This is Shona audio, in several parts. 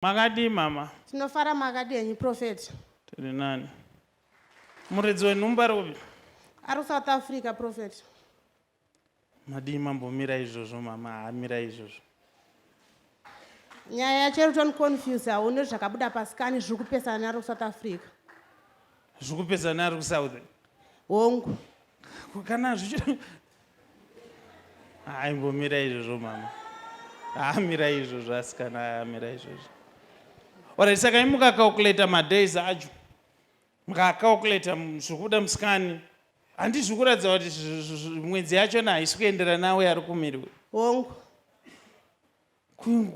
Makadii mama? Tinofara makadii henyu prophet? Tiri nani. Muridzi wenhumbu ari kupi? Ari South Africa prophet. Madii mambo mira izvozvo mama haa mira izvozvo. Nyaya yacho iri toni confuse haune zvakabuda pasikani zviri kupesana neari kuSouth Africa. Zviri kupesana neari kuSouth? Hongu. Kana zvichiri aimbomira izvozvo mama amira izvozvo asikana amira izvozvo orit saka imukacalculator madays acho mukacalculator zvekuda musikani handizvi kuratidza kuti mwedzi yachona haisi kuendera nawe ari kumiriwe hongu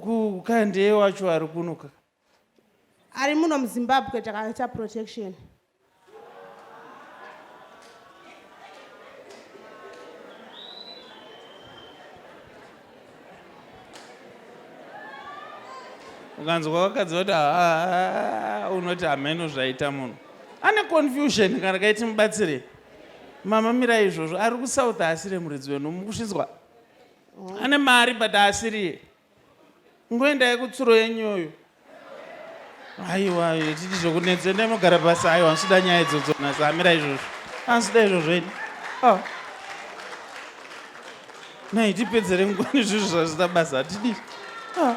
kukandeye wacho ari kunoka ari muno muzimbabwe takaita protection ukanzwa vakadzi vati haa unoti hameno zvaita munhu ane confusion kana kaiti mubatsire mama mira izvozvo ari kusouth asiri muridzi wenu mukusvinzwa ane mari but asiriye Ngoendai kutsuro yenyoyo. Aiwa, titi zvokunetsa endai mogara pasi. Aiwa, ndisida nyaya idzodzo nhasi. Hamira izvozvo. Handisida izvozvo ini. Oh. Nhai tipedzere nguva nezvinhu zvazvida basa. Hatidi. Oh.